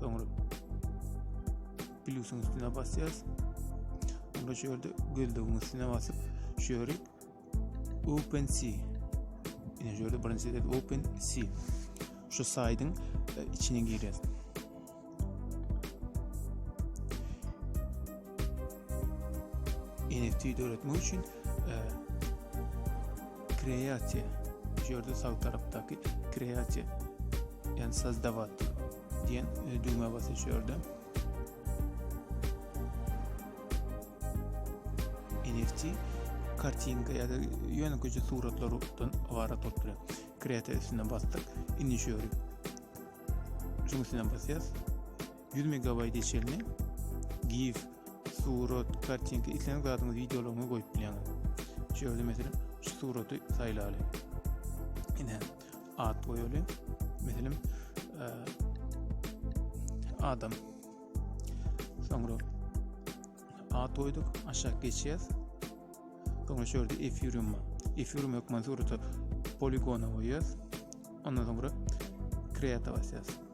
Soňra plus'un üstüne basýas. Soňra şu ýerde gözlegiň üstüne basyp, şu ýeri Open C. Ine şu ýerde birinji ýerde Open C. Şu saýdyň e, içine girýäs. NFT döretmek üçin kreatsiýa şu ýerde sag tarapdaky kreatsiýa ýa sozdawat diýen e, düwmä basyň şu ýerde NFT kartinka ýa-da ýöne köçe suratlardan ybarat bolup durýar. Kreator üstüne basdyk. Indi şu ýöri. Şuň üstüne basýas. 100 megabaýta çenli gif, surat, kartinka, isleýän zadyňyzy wideolaryňyzy goýup bilýäňiz. Şu ýerde meselem şu suraty saýlaly. Ine at goýaly. Meselem e, adam. Soňra at goýduk, aşak geçýäs. Soňra şu ýerde efirium bar. Efirium hökman surata poligona goýýas. Ondan soňra kreata basýas.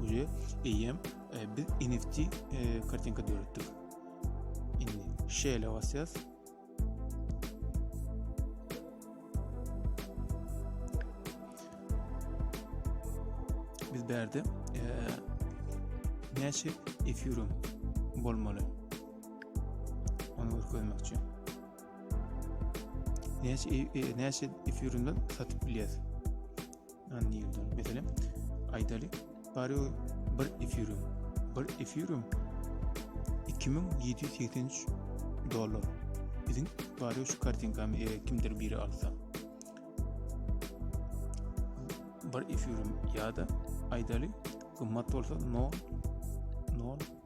Uje eýem e, biz NFT e, kartinka döretdik. Indi şeýle basýas. Biz berde e, näçe efirum bolmaly? Onu görkezmekçi. Näçe e, e, näçe efirinden satyp bilýäs? Anlaýyldan. Meselem, aýdaly, bari bir efirium. Bir efirium 2783 dollar. Biziň bari şu kartinkamy e, kimdir biri alsa. Bir efirium ýa-da aýdaly gymmat bolsa 0 0